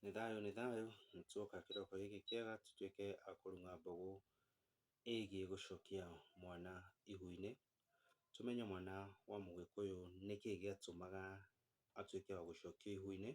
Nĩ thayũ nĩ thayũ, nĩ twoka kĩroko gĩkĩ kĩega tũtwĩke a kũrũma mbegũ ĩgiĩ gũcokia mwana ihu-inĩ, tũmenye mwana wa mũgĩkũyũ nĩkĩ gĩatũmaga atwĩke wa gũcokio ihu-inĩ,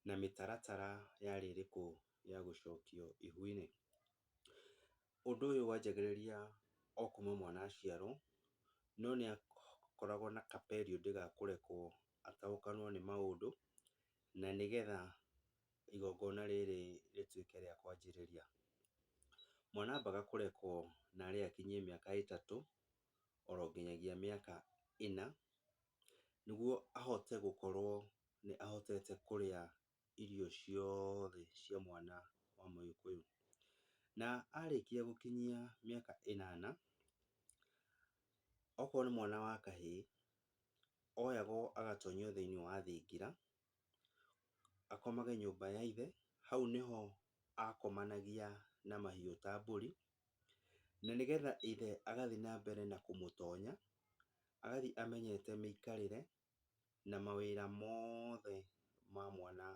na mĩtaratara yarĩ ĩrĩkũ ya gũcokio ihu-inĩ. Ũndũ ũyũ wanjagĩrĩria o kuma mwana aciarwo, no nĩakoragwo na ka period ga kũrekwo ataũkanwo nĩ maũndũ, na nĩgetha igongona rĩrĩ rĩtuĩke rĩa kwanjĩrĩria. Mwana ambaga kũrekwo narĩ akinyie mĩaka ĩtatũ, oro nginyagia mĩaka ĩna, nĩguo ahote gũkorwo nĩ ahotete kũrĩa irio ciothe cia mwana wa mũgĩkũyũ. Na arĩkia gũkinyia mĩaka ĩnana, okorwo nĩ mwana wa kahĩĩ, oyagwo agatonyio thĩiniĩ wa thingira, akomage nyũmba ya ithe, hau nĩho akomanagia na mahiũ ta mbũri, na nĩgetha ithe agathiĩ na mbere na kũmũtonya, agathiĩ amenyete mĩikarĩre na mawĩra mothe ma mwana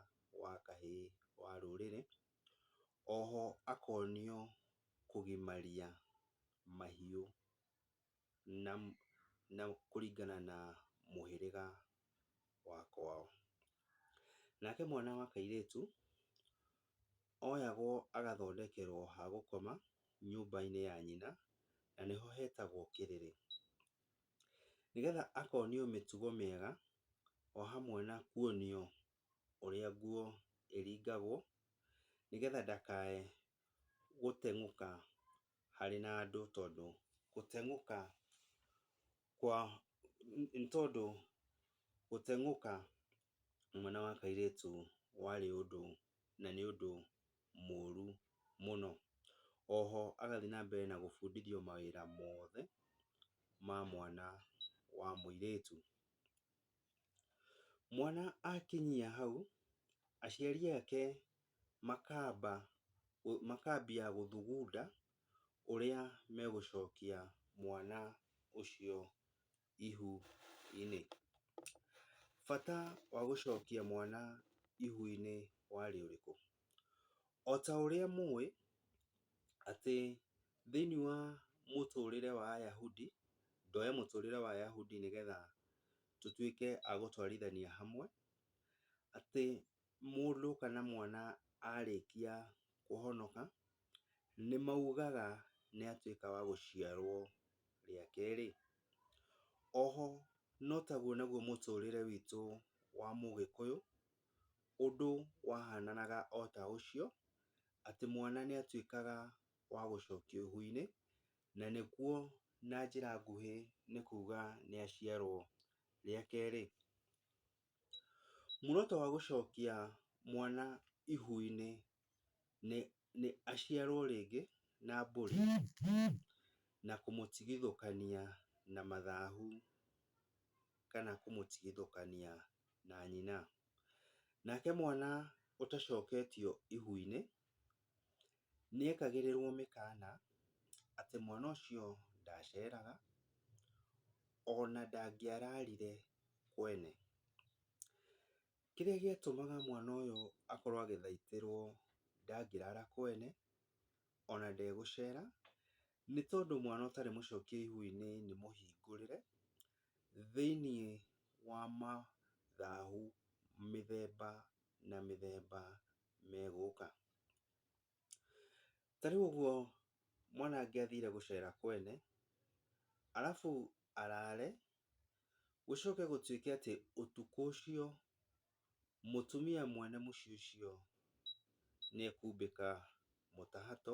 wa kahĩĩ wa rũrĩrĩ. Oho akonio kũgimaria mahiũ na na kũringana na mũhĩrĩga wa kwao. Nake mwana wa kairĩtu, oyagwo agathondekerwo ha gũkoma nyũmba-inĩ ya nyina, na nĩho hetagwo kĩrĩrĩ. Nĩgetha akonio mĩtugo mĩega o hamwe na kuonio ũrĩa nguo ĩringagwo, nĩgetha ndakae gũteng'ũka harĩ na andũ tondũ gũteng'ũka kwa, nĩ tondũ gũteng'ũka mwana wa kairĩtu warĩ ũndũ na nĩ ũndũ mũru mũno. Oho agathiĩ na mbere na gũbundithio mawĩra mothe ma mwana wa mũirĩtu. Mwana akinyia hau, aciari ake makamba, makambia gũthugunda ũrĩa megũcokia mwana ũcio. ihu-inĩ. Bata wa gũcokia mwana ihu-inĩ warĩ ũrĩkũ? O ta ũrĩa mũĩ atĩ thĩinĩ wa mũtũrĩre wa Ayahudi, ndoya mũtũrĩre wa Ayahudi nĩgetha tũtuĩke a gũtwarithania hamwe, atĩ mũndũ kana mwana arĩkia kũhonoka, nĩ maugaga nĩ atuĩka wa gũciarwo rĩa kerĩ. Oho no taguo naguo mũtũrĩre witũ wa mũgĩkũyũ, ũndũ wahananaga o ta ũcio, atĩ mwana nĩ atuĩkaga wa gũcokio ihu-inĩ, na nĩkuo na njĩra nguhĩ nĩ kuga nĩ aciarwo rĩa kerĩ. Muoroto wa gũcokia mwana ihu-inĩ nĩ aciarwo rĩngĩ na mbũri na kũmũtigithũkania na mathahu kana kũmũtigithũkania na nyina. Nake mwana ũtacoketio ihu-inĩ Nĩekagĩrĩrwo mĩkana atĩ mwana ũcio ndaceraga, ona ndangĩararire kwene. Kĩrĩa gĩatũmaga mwana ũyũ akorwo agĩthaitĩrwo ndangĩrara kwene, ona ndegũcera, nĩ tondũ mwana ũtarĩ mũcokie ihu-inĩ nĩ mũhingũrĩre, thĩiniĩ wa mathahu mĩthemba na mĩthemba megũka. Ta rĩu ũguo mwanake athire gũcera kwene, arabu arare, gũcoke gũtuĩke atĩ ũtukũ ũcio mũtumia mwene mũciĩ ũcio nĩ ekumbĩka mũtahato,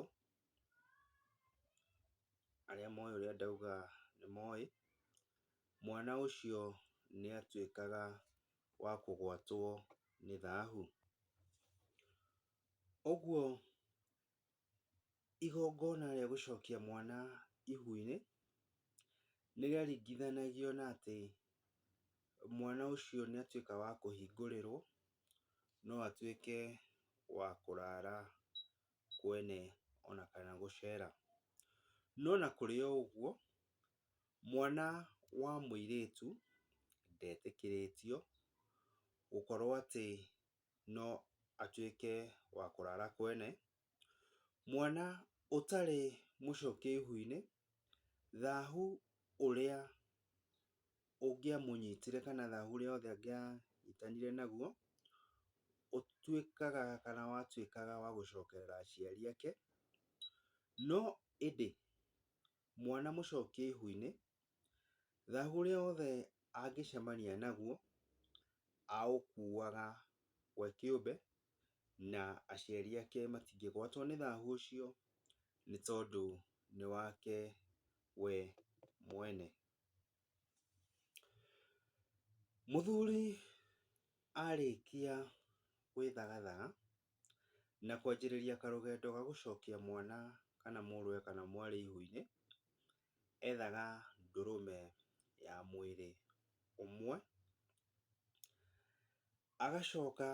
arĩa moĩ ũrĩa ndauga nĩ moĩ, mwana ũcio nĩ atuĩkaga wa kũgwatwo nĩ thahu. Ũguo igongona rĩa gũcokia mwana ihu-inĩ nĩ rĩaringithanagio na atĩ mwana ũcio nĩ atuĩkaga wa kũhingũrĩrwo no atuĩke wa kũrara kwene ona kana gũcera. No ona kũrĩ o ũguo, Mwana wa mũirĩtu ndetĩkĩrĩtio gũkorwo atĩ no atuĩke wa kũrara kwene. Mwana ũtarĩ mũcokie ihu-inĩ, thahu ũrĩa ũngĩamũnyitire kana thahu ũrĩa wothe angĩanyitanire naguo, ũtuĩkaga kana watuĩkaga wa gũcokerera aciari ake. No ĩndĩ mwana mũcokie ihu-inĩ, thahu ũrĩa wothe angĩcemania naguo aũkuaga we kĩũmbe na aciari ake matingĩgwatwo nĩ thahu ũcio nĩ tondũ nĩ wake we mwene. Mũthuri arĩkia gwĩthagathaga na kwanjĩrĩria karũgendo ga gũcokia mwana kana mũrũwe kana mwarĩ ihũ-inĩ, ethaga ndũrũme ya mwĩrĩ ũmwe, agacoka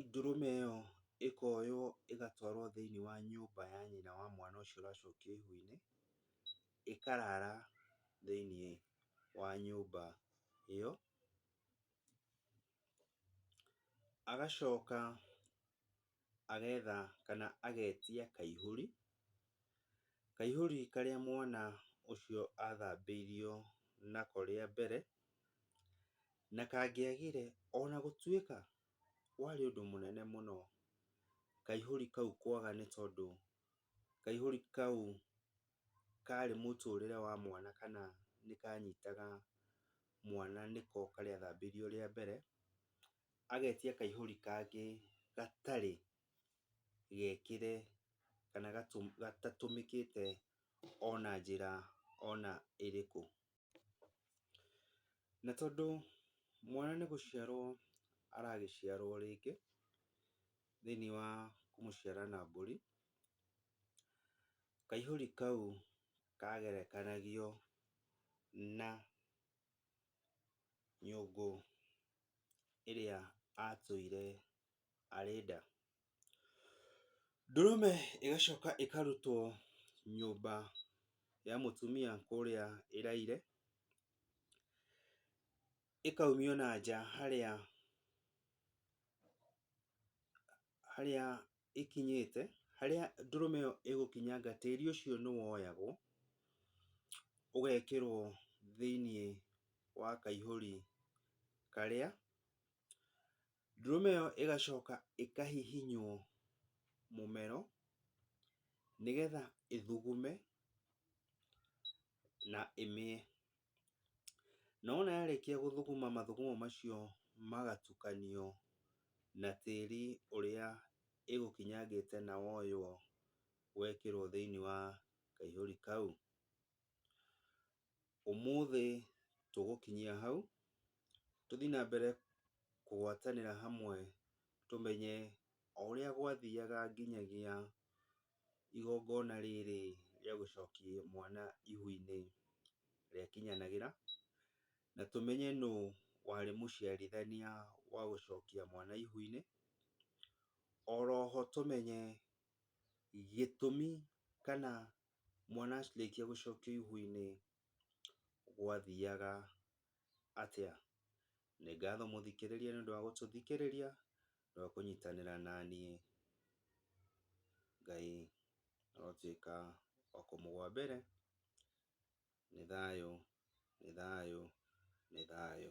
Ndũrũme ĩyo ĩkoywo ĩgatwarwo thĩiniĩ wa nyũmba ya nyina wa mwana ũcio ũracokio ihu-inĩ, ĩkarara thĩiniĩ wa nyũmba ĩyo. Agacoka agetha kana agetia kaihũri, kaihũri karĩa mwana ũcio athambĩirio nako rĩa mbere, na kangĩagire ona gũtuĩka warĩ ũndũ mũnene mũno kaihũri kau kwaga nĩ tondũ kaihũri kau karĩ mũtũrĩre wa mwana kana nĩkanyitaga mwana nĩko karĩa athambĩirio rĩa mbere, agetia kaihũri kangĩ gatarĩ gekĩre kana gatatũmĩkĩte ona njĩra ona ĩrĩkũ. Na tondũ mwana nĩ gũciarwo aragĩciarwo rĩngĩ thĩiniĩ wa kũmũciara na mbũri, kaihũri kau kagerekanagio na nyũngũ ĩrĩa atũire arĩ nda. Ndũrũme ĩgacoka ĩkarutwo nyũmba ya mũtumia kũrĩa ĩraire, ĩkaumio na nja harĩa harĩa ĩkinyĩte, harĩa ndũrũme ĩyo ĩgũkinyanga tĩri ũcio nĩ woyagwo, ũgekĩrwo thĩinĩ wa kaihũri karĩa, ndũrũme ĩyo ĩgacoka ĩkahihinywo mũmero, nĩgetha ĩthugume na ĩmĩe. Na wona yarĩkia gũthũgũma mathugumo macio magatukanio na tĩri ũrĩa ĩgũkinyangĩte na woywo wekĩrwo thĩinĩ wa kaihũri kau. Ũmũthĩ tũgũkinyia hau, tũthiĩ na mbere kũgwatanĩra hamwe tũmenye o ũrĩa gwathiaga nginyagia igongona rĩrĩ rĩa gũcokia mwana ihu-inĩ rĩakinyanagĩra, na tũmenye nũ warĩ mũciarithania wa gũcokia mwana ihu-inĩ, oro ho tũmenye gĩtũmi kana mwana arĩkia gũcokio ihu-inĩ gwathiaga atĩa? Nĩ ngatho mũthikĩrĩria nĩ ũndũ wa gũtũthikĩrĩria na kũnyitanĩra na niĩ. Ngai arotuĩka wa kũmũgwa mbere. Nĩ thayũ, nĩ thayũ, nĩ thayũ.